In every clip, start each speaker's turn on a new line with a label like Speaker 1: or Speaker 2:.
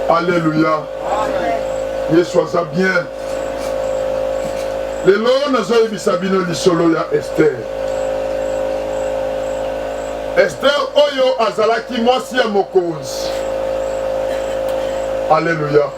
Speaker 1: Alléluia. Yesu aza bien. Lelo nazoyebisa bino lisolo ya Esther. Esther oyo azalaki mwasi ya mokonzi. Alléluia.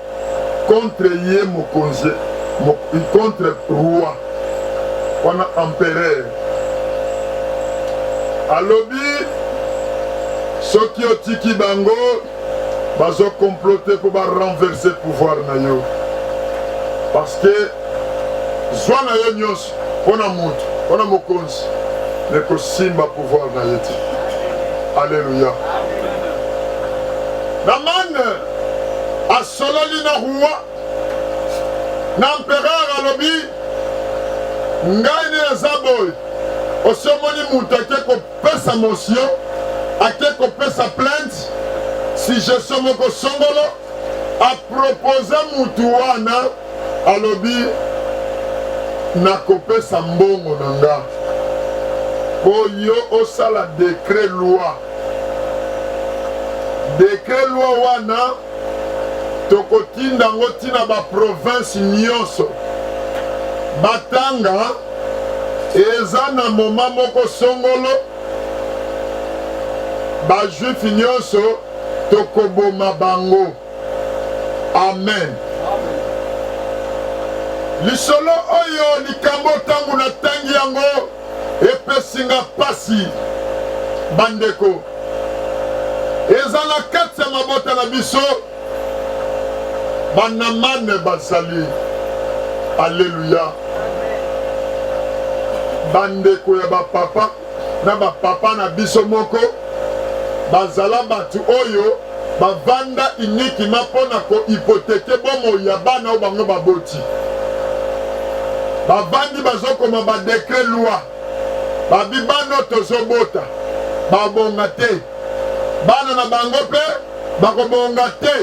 Speaker 1: contre ye mokonzi contre roi wana empereur alobi soki otiki bango bazokomplote mpo barenverse pouvoir na yo parce que zwa na yo nyonso mpo na moto, mpo na mokonzi, me kosimba pouvoir na ye te. Aleluya. Namane asololi na roi na empereur alobi ngai nde naza boye osi omoni moto ake kopesa motion ake kopesa plainte si gestion moko songolo a proposa mutu wana alobi nakopesa mbongo na nga po yo osala decret loi decret loi wana tokotinda yango ntina baprovince nyonso batanga eza na moma moko songolo bajuife nyonso tokoboma bango amen lisolo oyo likambo ntango natangi yango epesi nga mpasi bandeko eza na kati ya mabota na biso banamane bazali aleluya bandeko ya bapapa na bapapa na biso moko bazala bato oyo bavanda inikima mpo na kohipoteke bomoi ya bana oyo bango baboti bavandi bazokoma badekre loi babi bana oyo tozobota babonga te bana na bango mpe bakobonga te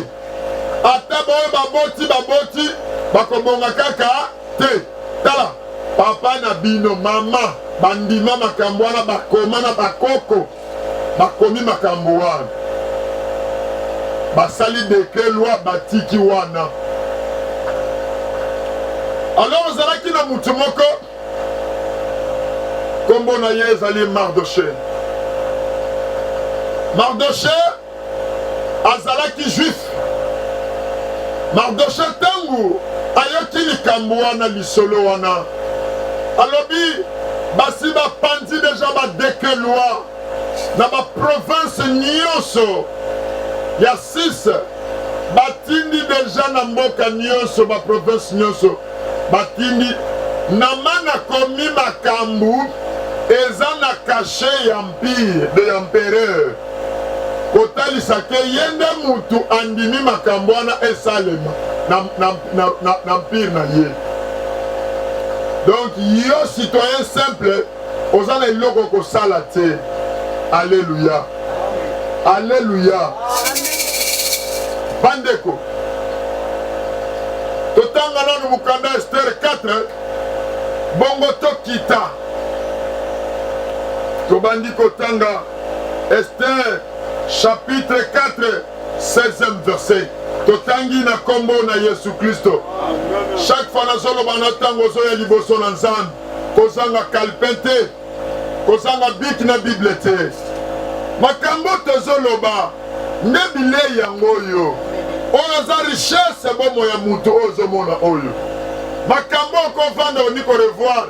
Speaker 1: ata baoyo baboti baboti bakobonga kaka te tala papa na bino mama bandima makambo wana bakoma na bakoko bakomi makambo wana basali dekre lwa batiki wana alors ozalaki na moto moko nkombo na ye ezali mardoche mardoche azalaki juif mardoshe ntango ayoki likambo wana lisolo wana alobi basi bapanzi deja badeke loi na baprovince nyonso ya 6 batindi deja na mboka nyonso baprovince nyonso batindi namana komi makambo eza na kashe ya mpire de ya mpereur kotalisa ke ye nde mutu andimi makambo wana esalema na, na, na, na, na mpire na ye donc yo citoyen simple oza na eloko kosala te aleluya aleluya bandeko totanga nanu mokanda estere 4 bongo tokita tobandi kotanga Esther chapitre 4 16e verset totangi na nkombo na yesu kristo chaque fois nazoloba na ntango ozoya liboso na nzambe kozanga kalpin te kozanga biki na bible te makambo tozoloba nde bilei yango oyo oyo aza richesse bomoi ya moto oyo ozomona oyo makambo okovanda oni korevoir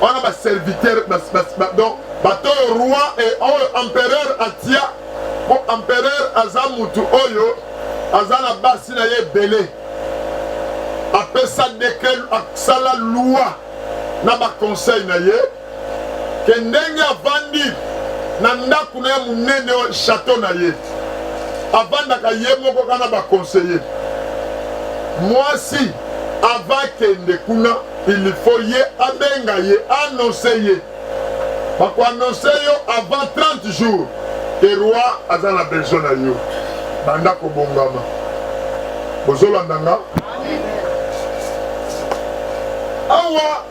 Speaker 1: wana ba serviteur donc bato oyo roi e oyo empereur atia mpo empereur aza mutu oyo aza na basi na ye ebele apesa dekret asala loi na baconseil na ye ke ndenge avandi na ndako na ye monene oyo chateau na ye avandaka ye moko kana baconseille mwasi ava kende kuna il faut ye abenga ye annonce ye bakoannonce yo avant 30 jours ke roi aza na besoin na yo banda kobongama bozolanda nga awa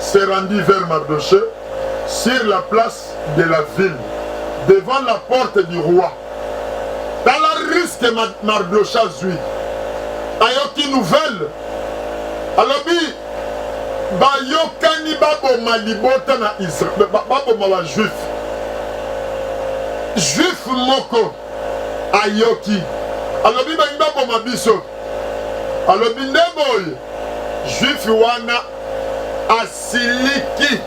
Speaker 1: se rendit vers Mardochee sur la place de la ville, devant la porte du roi. Tala risque Mardochee azwi, ayoki nouvelle, alobi bayokani baboma libota na Israël, baboma ba juif juif moko ayoki alobi bangi baboma biso alobi nde boye juifi wana asiliki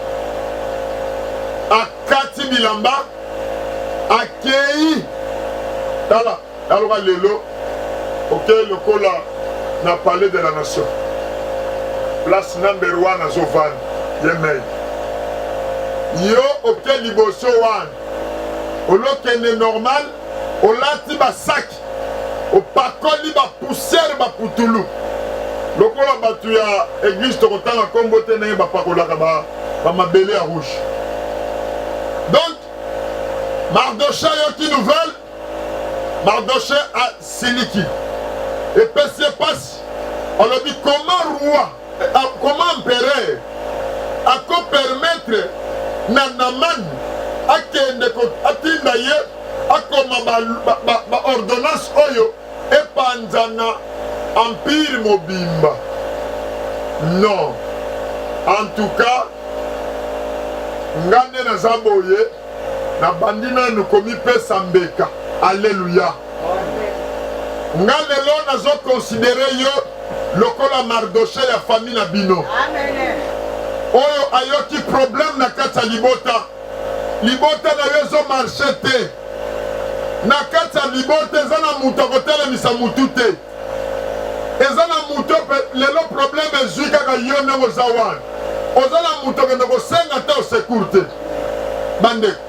Speaker 1: akati bilamba akei tala taloka lelo okei lokola na palais de la nation place number wana azovanda ye mei yo oke liboso wana olokende normal olati basaki opakoli bapusiere baputulu lokola bato ya eglise tokotanga nkombo te ndenge bapakolaka bamabele ya rouge donc mardoshe ayoki nouvelle mardoshe asiliki epesi ye mpasi alobi koma roi A, comment empereur ako permettre na Naman akende atinda ye akoma baordonnance ba, ba, ba oyo epanzana empire mobimba non en tout cas nga nde naza boye nabandi nanu komipesa mbeka. Alleluia. Nga lelo nazo considere yo lokola Mardoche ya famille na bino.
Speaker 2: Oyo
Speaker 1: ayoki problème na kati ya libota. Libota na yo ezo marche te. Na kati ya libota eza na moto akotelemisa motu te. eza na moto mpe lelo probleme ezwi kaka yo ndenge oza wana oza na moto okende kosenga ata osecour te bandeko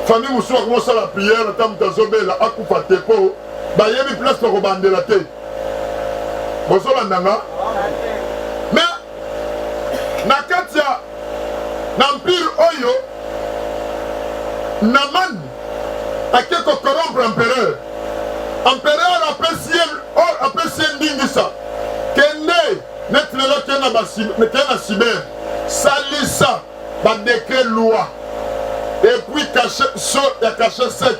Speaker 1: fami mosusu akomi osala priere ata moto azobela akufa te mpo bayebi place bakobandela te bozolanda nga na kati ya na empire oyo Naman ake kocorrompre empereur. Empereur apesi ye apesi ye ndingisa, kende neti lelo kenda na Sibere salisa ba decret loi et puis cache so ya cache sec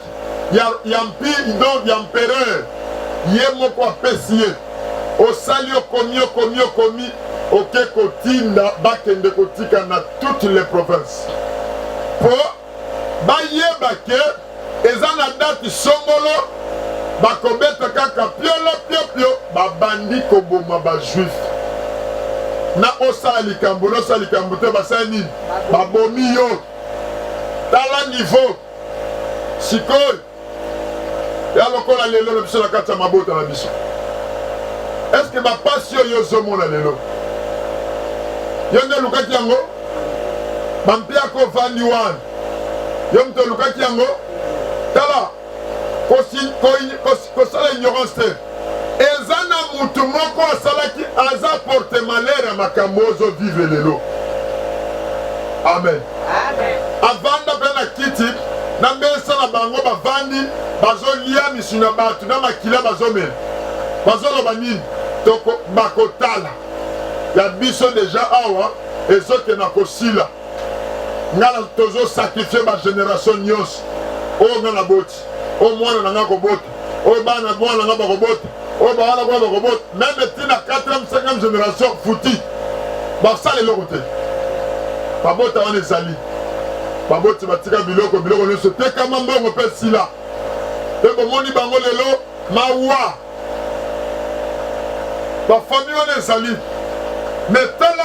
Speaker 1: ya ya mpi donc ya empereur ye moko apesi ye osali okomi okomi okomi oke kotinda bakende kotika na toutes les provinces po bayeba ke eza na date songolo bakobeta kaka piolo piopio babandi koboma bajuif na osala likambo na osala likambo te basala nini babomi yo tala niveau sikoyo ya lokola lelo na biso na kati ya mabota na biso eske bapasi oyo ozomona lelo yo nde olukaki yango bampiaka ovandi wana yo moto olukaki yango tala kosala ignorance te eza na mutu moko asalaki aza porte malheur ya makambo ozo vive lelo amen avanda mpe na kiti na mesa na bango bavandi bazolia misu na bato na makila bazomela bazoloba nini bakotala ya biso deja awa ezokenda kosila ngai tozosakrifie bageneration nyonso oyo ngai naboti oyo mwana na ngai akobota oyo bana mwana na ngai bakobota oyo bawala kuna bakobota meme ntina 4e 5e génération futi basala eloko te babota wana ezali baboti batika biloko biloko nyonso tekama mbongo mpe sila mpe bomoni bango lelo mawa bafami wana ezali metala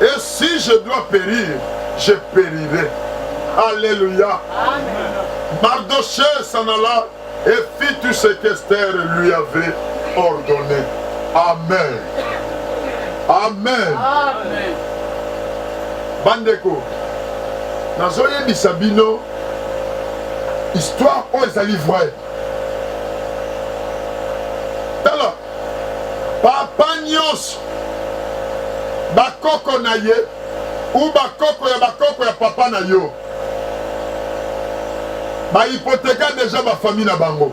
Speaker 1: et si je dois perir je perirai alléluia mardoché s'en alla et fit tout ce qu'esther lui avait ordonné amen amen, amen. bandeko nazoyebisa bino histoire oyo ezali vraie Papa nyonso, bakoko na ye ou bakoko ya bakoko ya papa na yo ba hypotheka deja ba famille na bango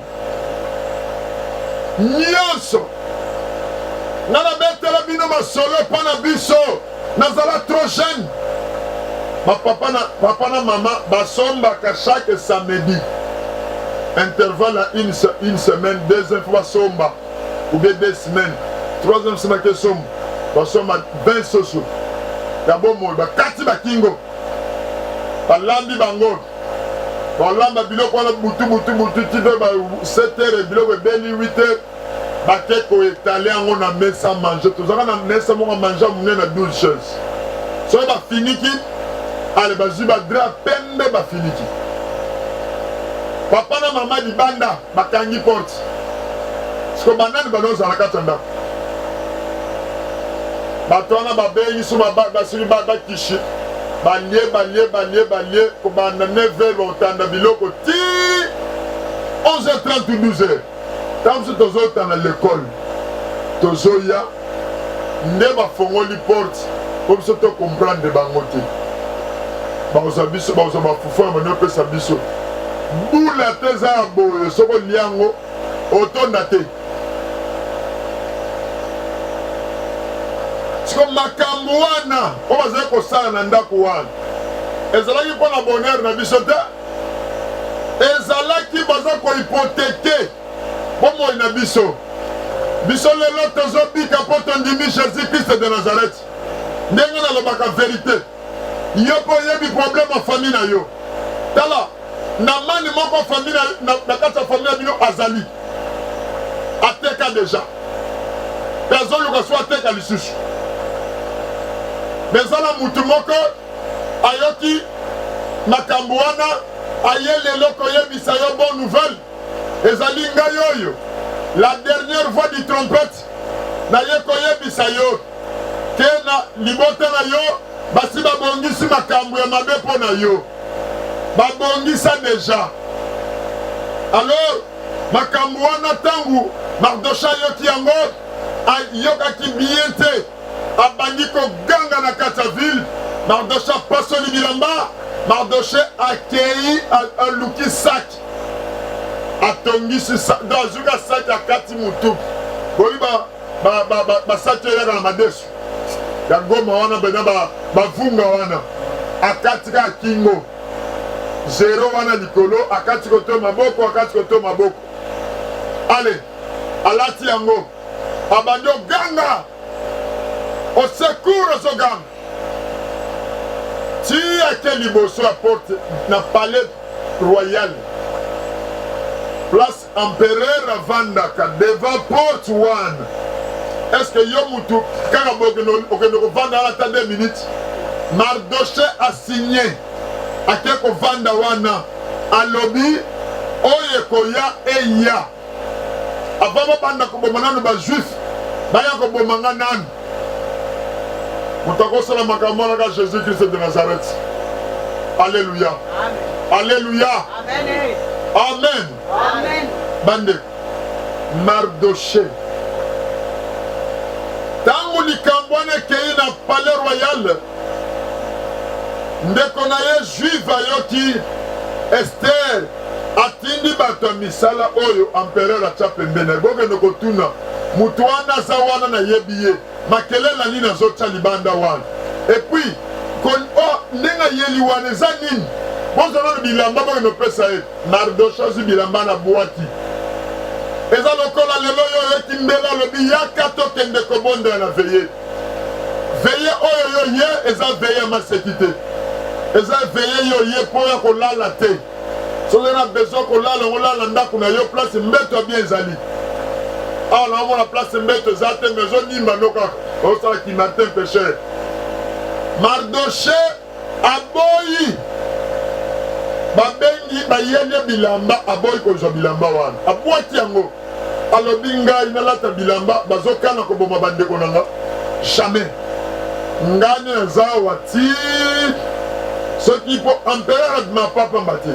Speaker 1: nyonso. Nga nabetela bino masolo mpo na biso. nazala trop jeune bapapa na papa na mama basombaka chaque samedi intervalle ya une, une semaine deuxième fois basomba oubien deux semaines troisième semaine ke somba basomba 20 soso ya bomoi bakati bakingo balambi bango balamba biloko wana butu butu butu ti mpe ba 7 heures biloko ebeli 8 heures bake ko etale yango na mesa manger tozalaka na mesa moko manger ya monene na 12 chaise soki bafiniki ale bazwi badra pembe bafiniki papa na mama libanda bakangi porte siko banani banozala kati ya ndako bato wana babengi so basili bakishi balie balie balie balie kobanda 9 heure bakotanda biloko ti 11 heure 30 12 heure Tango mosusu tozotanga lekole, tozoya nde bafongoli porte po biso to comprendre bango te, bakozwa biso, bakozwa bafufu ya bani opesa biso bula te, eza ya boye, soki olia yango otonda te. Siko makambo wana oyo bazali kosala na ndako wana ezalaki mpo na bonheur na biso te. ezalaki baza kohypotheke bomoi na biso biso lelo tozobika mpo tondimi jésus krist de nazareti ndenge nalobaka verite yo mpo oyebi problème ya famille na yo tala na mani moko famille na kati ya famille na bino azali ateka deja mpe azoluka so ateka lisusu me eza na motu moko ayoki makambo wana aye lelo koyebisa yo bonne nouvelle ezali ngai oyo la dernière voix du trompette naye koyebisa yo te na libota na yo basi babongisi makambo ya mabe mpo na yo babongisa deja alors makambo wana ntango mardosha ayoki yango ayokaki bien te abandi koganga na kati ya vile. Mardoshe apasoli bilamba, Mardoshe akei aluki saki, atongisi do azuki asaki akati motuki boyi basaki eyaka na madesu ya goma wana bena bavunga wana akati kaka kingo zero wana likolo akati koto maboko akati koto maboko ale alati yango abandi oganga osekur ozoganga ti ake liboso ya porte na palais royal place empereur avandaka devant porte wana est ce que yo mutu kaka okende kovanda wana ata 2 minutes mardoche asigne ake kovanda wana alobi oyo ekoya eya Avant babanda koboma nanu ba juif baya koboma nga nanu. Moto akosala makambo wana ka Jésus Christ de Nazareth. Alléluia. Alléluia. Amen. Amen. Amen. Bande Mardoché ntango likambo wana ekei na palais royal Ndeko na ye Juive ayoki Esther atindi bato ya misala oyo amperere atya pembeni, bokende kotuna moto wana aza wana, nayebi ye, makelele nini azotya libanda wana? Epuis oh, ndenge ayeli wana eza nini? bozwa nano bilamba bokende opesa ye. Mardoshe azwi bilamba na bwaki eza lokola lelo oyo oyeki mbela alobi yaka tokende kobondela na veye veye oyo yo ye eza veye ya maseki te eza veye yo ye mpo ya kolala te soki na besoin kolala yango lala na ndako na yo place mbeto ya bien ezali awa naomona place mbeto eza te mais ozonimba no kaka osala kimartin pecheur mardoche aboyi babengi bayende bilamba aboyi kozwa bilamba wana abwaki yango alobi ngai nalata bilamba bazokana koboma bandeko na nga jamais ngai nde naza awa ti soki mpo empereur adima papamba te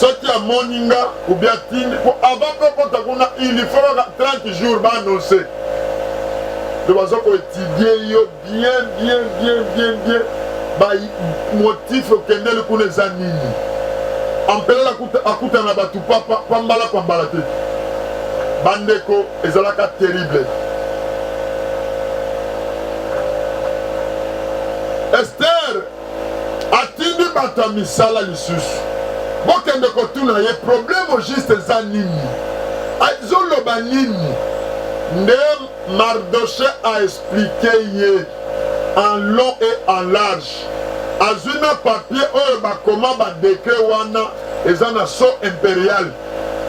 Speaker 1: soki amoni nga obi atindi mpo avant mpe okota kuna ilifo 30 jours baannonce to baza koetudie yo Bien bien bien bien bien ba motif okendeli kuna eza nini ampelele akutana na bato pambala pambala te bandeko ezalaka terrible ester atindi bato ya misala lisusu bokende kotuna ye probleme juste eza nini azoloba nini nde Mardoche a explique ye en long et en large azwi na papier oyo bakoma ba decret wana eza na so imperial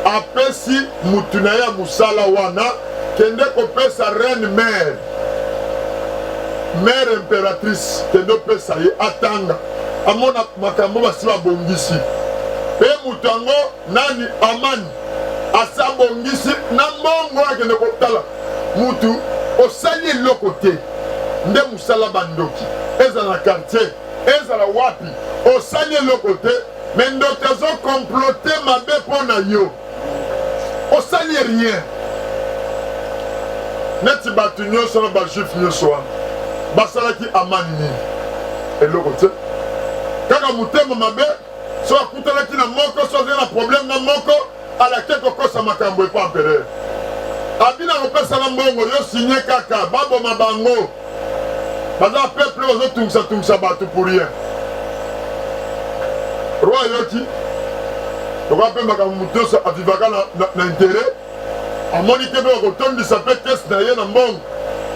Speaker 1: apesi mutu na ye ya mosala wana kende kopesa reine mère mère impératrice kende opesa ye atanga amona makambo basi babongisi mpe moto yango Nani Amani asi abongisi na mbongo akende kotala mutu osali eloko te nde mosala bandoki ezala na quartier ezala wapi osali eloko te me ndoki azokomplote mabe mpo na yo osali rien neti bato nyonso na bajuif nyonso wana basalaki amani nini eloko te kaka motema mabe so akutanaki na moko so azali na problème na moko alaki kokosa makambo epa empereur abina kopesana mbongo yo signe kaka baboma bango baza peuple bazotungisa tungisa bato pour rien roi ayoki tokoya mpe makambo moto nyonso avivaka na interet amoni te mpe bakotondisa mpe kesi na ye na mbongo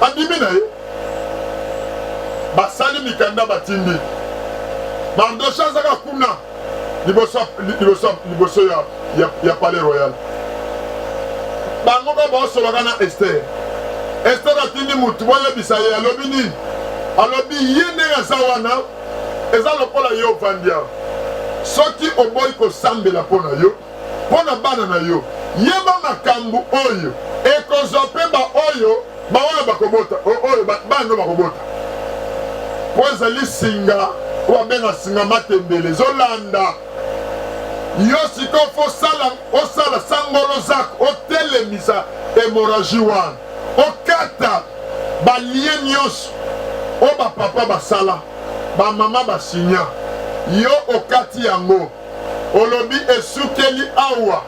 Speaker 1: andimi na ye basali mikanda batindi mardoshe azaka kuna liboso ya palais royal bango ba baosolaka na ester ester atindi motu boyebisa ye alobi nini alobi ye ndenge aza wana eza lokola yo ovandi awa soki oboyi kosambela mpo na yo mpo na bana na yo. Yeba makambo oyo ekozwa mpe baoyo baoyo bakobota oyo bana no bakobota, mpo ezali singa oyo babenga singa matembele ezolanda yo sikoyo fo osala osala sangolo zako otelemisa hemoragie wana okata balie nyonso oyo bapapa basala bamama basinya yo okati yango olobi esukeli awa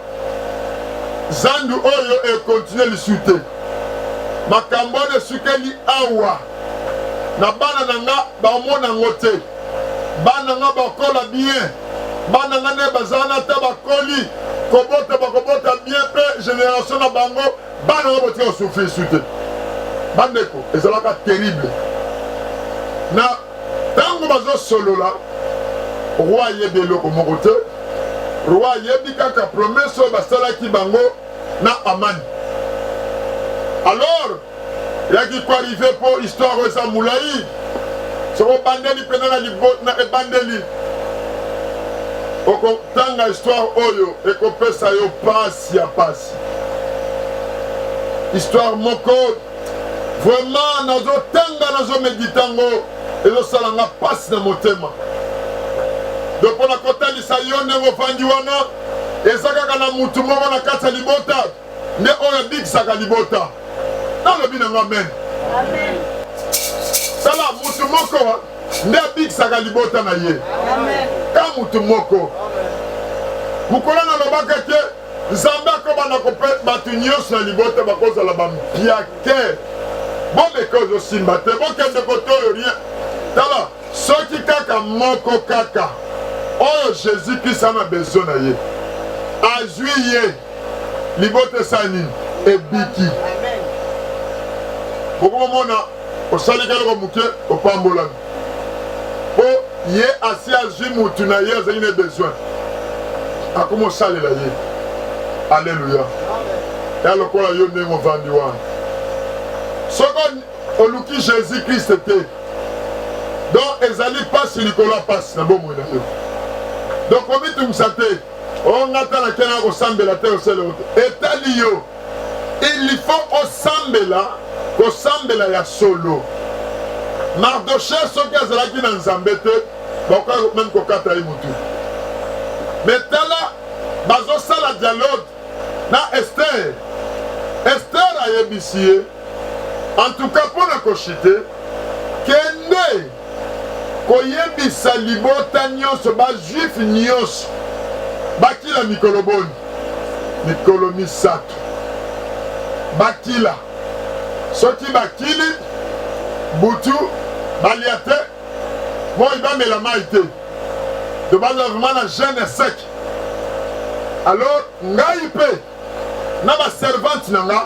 Speaker 1: zandu oyo ekontinue lisu te makambo wana esukeli awa na bana na nga bamona yango te bana nga bakola bien bana nga nde bazala na ata bakoli kobota bakobota bien mpe génération na bango bana nga botika kosufri lisu te bandeko ezalaka terrible na ntango bazosolola roi ayebi eloko moko te roi ayebi kaka promese oyo basalaki bango na amani alors yaki koarrive mpo histoire oyo eza molai soko obandeli mpena na ebandeli okotanga histoire oyo ekopesa yo mpasi ya mpasi histoire moko vraiment nazotanga nazomedita yango ezosala nga mpasi na motema donc mpo na kotalisa yo ndenge ofandi wana eza kaka na motu moko na kati ya libota nde oyo abikisaka libota nalobi na nga amen tala motu moko nde abikisaka libota na ye ka motu moko mokolo nalobaka te nzambe akobanda kope bato nyonso ya libota bakozala bampia te bomeka ozosimba te bokende kotoyo rien tala soki kaka moko kaka oyo jésus krist ana besoin na ye azwi ye libota esala nini ebiki bokomomona osali keloko moke opambolami po ye asi azwi mutu na ye azali na besoin akomosalela ye aleluya ya lokola yo ndenge ovandi wana soko oluki jésus krist te donc ezali mpasi likolo ya mpasi na bomoi na yo donc omitungisa te ongata na kena kosambela te osele ote etali yo il faut osambela kosambela ya solo mardoche soki azalaki na nzambe te bakoka meme kokata ye motu me tala bazosala dialogue na ester ester ayebisi ye en tout cas mpo na koshite kende koyebisa libota nyonso, bajuife nyonso bakila mikolo boni? Mikolo misato bakila. Soki bakili butu balia te, moi bamela mai te, to bazala vraimen na jeune sec. Alors ngai mpe na ba servante na nga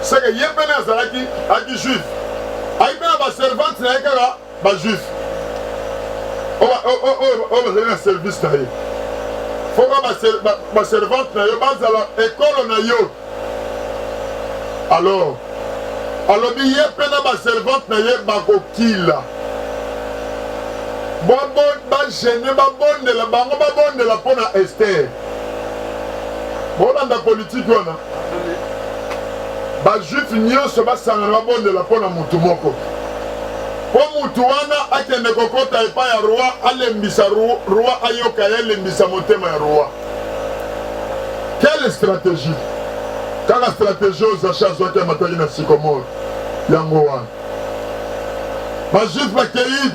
Speaker 1: seke ye pene azalaki aki juif ayi mpe na ba servante na ye kaka ba juif oyo bazali na service na ye foka ba servante na yo bazala ekolo na yo alors alobi ye mpe na ba servante na ye bakokila bagene babondela bango babondela mpo na estere bolanda politiki wana bajuife nyonso basangana babondela mpo na motu moko mpo motu wana akende kokɔta epai ya roi alembisa roi ayoka ye alembisa motema ya roi quelle stratégie kaka stratégie oyo zache azwaki amataki na sikomore yango wana bajuife bakei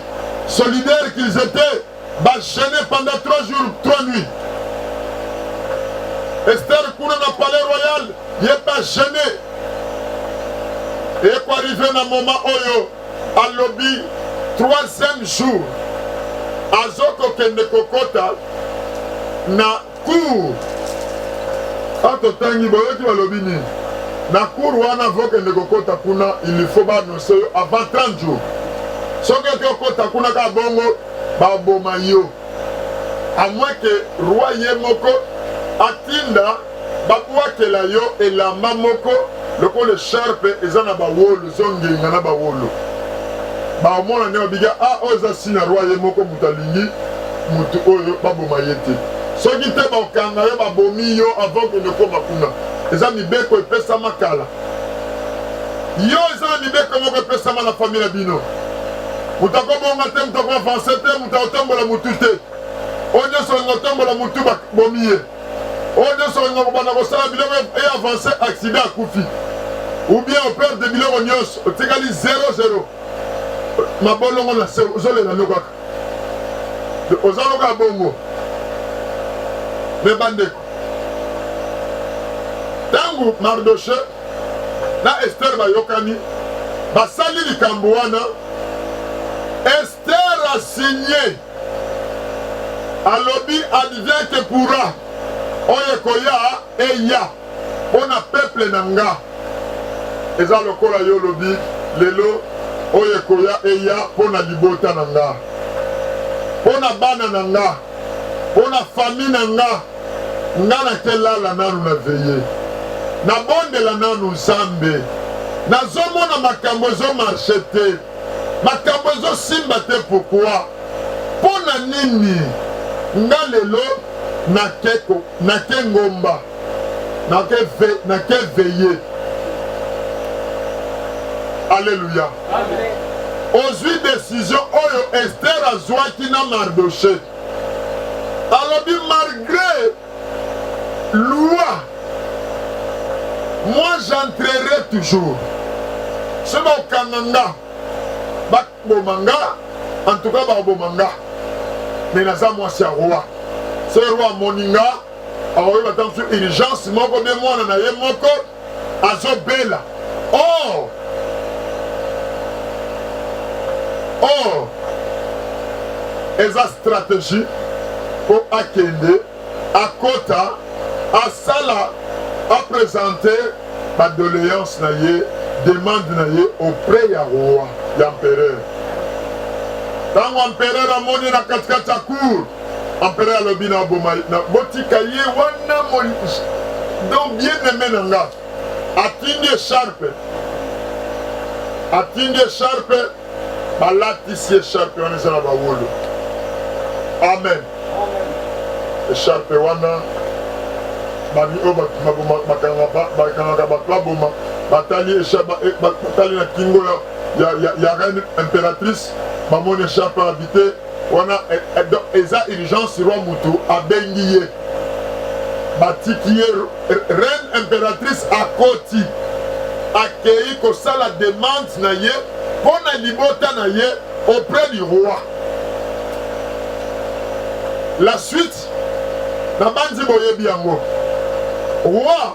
Speaker 1: solidaire qu'ils étaient ba gene pendant 3 jours 3 nuits Esther kuna na palais royal ye ba gene ekoarrive na moment oyo alobi troisième jour azokokende kokota na Cour a totangi boyoki balobi nini na cour wana vokende kokota kuna il faut baannonce yo avant 30 jours soki oki okota kuna kaka bongo baboma yo amwe ke roi ye moko atinda babwakela yo elamba moko lokola esharpe eza na bawolo ezongenga na bawolo baomona nde babika a ah, oyo eza si na roi ye moko moto alingi mutu oyo ba boma ye te soki te ba kanga yo ba bomi yo avant que ne koma kuna eza mibeko epesama kala yo eza na mibeko moko epesama na famille na bino moto akobonga te moto akoavanse te moto akotombola motu te oyo nyonso olinga kotombola motu babomi ye oyo nyonso olinga kobanda kosala biloko e avanse accident akufi ubien operde biloko nyonso otikali 00 mabolongo na se ozolela nokaka oza loka bongo me bandeko ntango mardoshe na estere bayokani basali likambo wana estere asigne alobi advient que pourra oyo ekoya eya pona peuple na nga eza lokola yo olobi lelo oyo ekoya eya pona libota na nga pona bana na nga pona famille na nga nga na ke lala nanu na veye na bondela nanu nzambe nazomona makambo ezo marche te makambo ezosimba te pourkua mpo na nini nga lelo nake ngomba nake ve, nake veye aleluya ozwi desizio oyo ester azwaki na mardoshe alobi malgre loi moi j'entrerai toujours soki bakokanga nga bakoboma nga en tout cas bakoboma nga me naza mwasi ya roi se roi amoni nga akoki bata mosusu urgence moko bie mwana na ye moko azobela or or eza stratégie mpo akende akota asala apresente badoléance na ye demande na ye auprès ya roi ya empereur ntango empereur amoni na katikati ya cour Empereur alobi na boma na botika ye wana moli donc bien aimé na nga atindi echarpe atindi echarpe balatisi echarpe wana eza na bawolo amen echarpe wana bami oyo bakangaka bato baboma batali eh, batali na kingo ya reine impératrice bamoni echarpe abite wana eh, eh, donc eza urgence roi mutu abengi ye batiki ye reine impératrice akoti akei kosala demande na ye mpo na libota na ye auprès du roi la suite nabanzi boyebi yango roi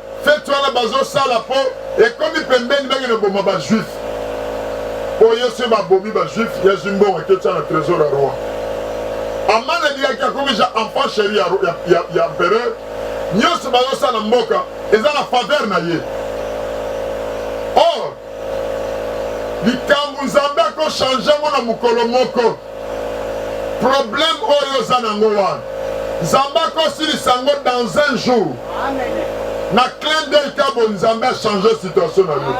Speaker 1: Feti wana bazosala po ekomi pembeni benge na boma ba juif po ye se babomi ba juif ya zimbongo aketya na trésor ya roi amana liyaki akomisa enfant chéri ya, ya, ya, ya empereur nyonso bazosala mboka eza na faveur na ye or likambo nzambe akochange yango na mokolo moko problème oyo oza nango wana nzambe akosilisa yango dans un jour na clin d'oeil kabo nzambe achange situation na yo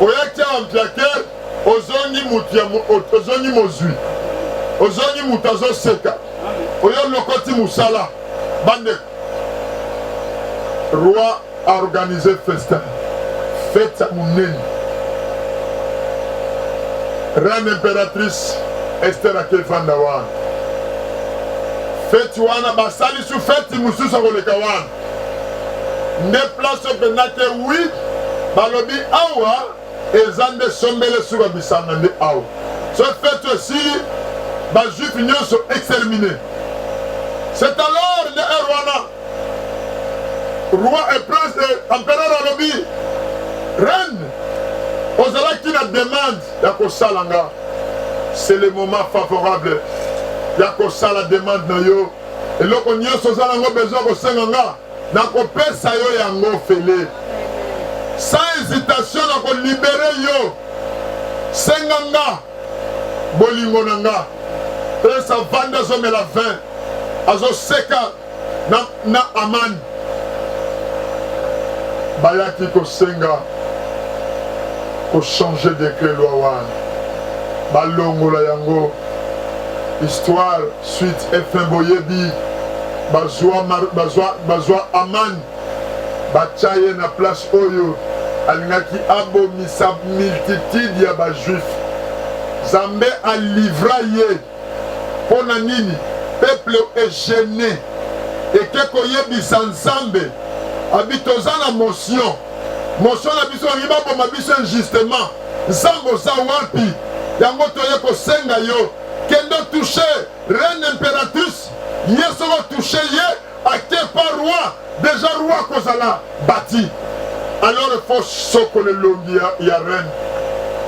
Speaker 1: oyaki awa mpiakere ozongi motu ya ozongi mozwi ozongi motu azoseka oyo lokoti mosala bande Roi a organise festin, fete ya monene. Reine imperatrice Esther ake fanda wana. Fete wana basalisi fete mosusu akoleka wana. Nde place oyo mpenza ke wi balobi awa eza nde sombele suka bisanga nde awa so fete esili bajuif nyonso extermine c'est alors nde heure wana roi et prince et empereur alobi reine ozalaki na demande ya kosala nga c'est le moment favorable ya kosala demande na yo eloko nyonso oza nango besoin kosenga nga nakopesa yo yango ofele sans hésitation nakolibere yo senga nga bolingo na nga prince avandi azomela 20 azoseka na, na amani bayaki kosenga kochange dekret loi wana balongola yango histoire Sweet FM boyebi bazua mar, bazua bazua Aman batia ye na place oyo alingaki abomisa multitude ya ba juif. Zambe alivra ye mpo na nini? Peuple egene eke koyebisa Nzambe abi toza na motion motion na biso bangi baboma biso injustement. Nzambe oza wapi? Yango toye kosenga yo kende otouche reine impératrice ye soko otouche ye ake pa roi deja roi akozala bati alors efo sokola elongi ya, ya reine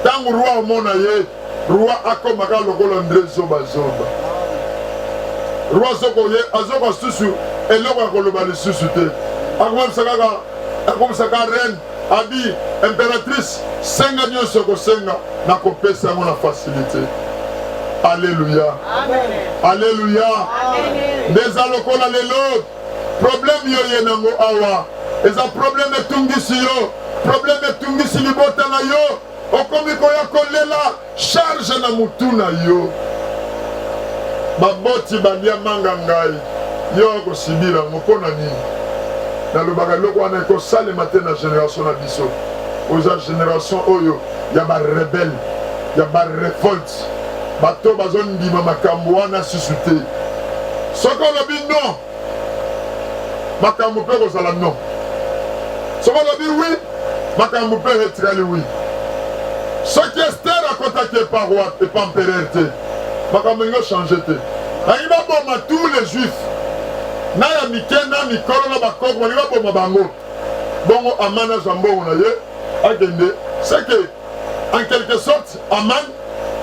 Speaker 1: ntango roi omona ye roi akomaka lokola ndre zobazoba roi azokoye azoka susu eloko ya koloba lisusu te akomisa kaka akomisa ka reine Abi, imperatrice, senga nyonso okosenga na kopesa yango na facilite. Aleluya, aleluya. Nde eza lokola lelo probleme yo ye nango awa eza probleme etungisi yo, probleme etungisi libota na yo, okomi koya kolela Charge na mutu na yo. Baboti balia manga ngai yo akosibila yango mpo na nini? Nalobaka eloko wana ekosalema te na generation na biso. Oza generation oyo ya ba rebelle ya ba revolte, bato bazondima makambo wana susu te. Soki olobi non makambo mpe ekozala non. Soki olobi wi, makambo mpe etikali wi. Soki Estere akotaki epa roi epa empereur te, makambo elingi ochange te. Balingi baboma tous les juifs na ya mike na mikolo na bakoko, balingi baboma bango. Bongo Amana azwa mbongo na ye akende seke en quelque sorte aman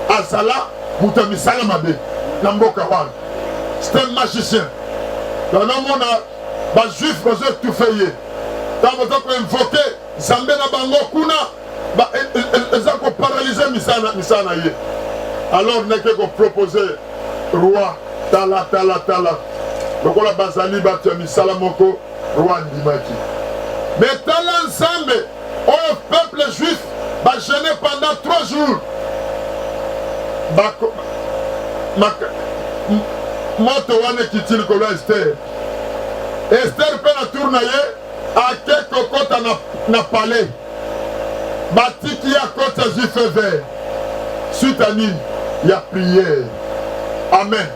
Speaker 1: azala moto ya misala mabe na mboka wana c'est un magicien banamona bajuif bazo etufe ye ntango baza koinvoke nzambe na bango kuna e, e, e, eza koparalyse misala misala na ye alors neke kopropose roi tala tala tala lokola bazali bato ya misala moko Roi andimaki. Mais tala Nzambe oyo peuple juif ba jeûner pendant trois jours. Ba, ma, moto wana ekiti likolo ya Esther. Esther mpe na tour na ye ake kokota na, na palais. batiki ya kota jus feu vert suite à nini ya prière amen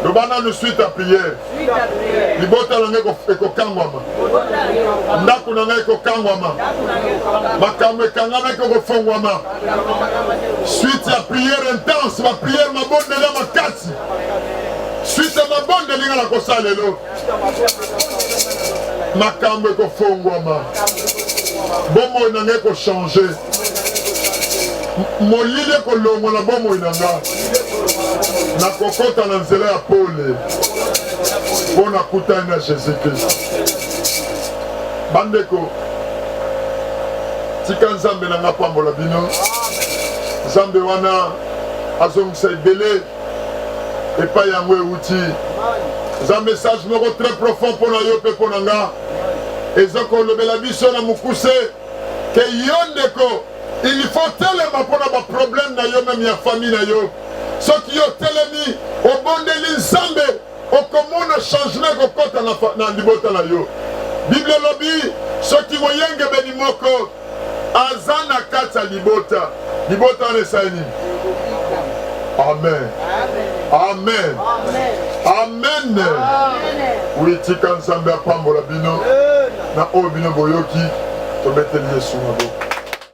Speaker 1: loba nanu suite à prière libota na ngai ekokangwama ndako na ngai ekokangwama makambo ekangamaki ekofongwama suite ya prière intense baprière mabondeli ya makasi suite ya mabondeli ngai nakosala lelo makambo ekofongwama bomoi na ngai ekochange molili ekolongola bomoi na ngai nakokota na nzela ya pole mpo nakutani na jésus kristo bandeko tika nzambe na ngai apambola bino nzambe wana azongisa ebele epai yango euti eza message moko très profond mpo na yo mpe mpo na nga eza kolobela biso na mokuse ke yo ndeko il faut telema mpo na baproblème na yo meme ya famille na yo soki yo telemi obondeli nzambe okomona changement ekokota na, na libota na yo biblia elobi soki moyengebeni moko aza na kati ya libota libota wana esali nini amen amen amen oyitika nzambe apambola bino na oyo bino boyoki tobeteli yesu maboko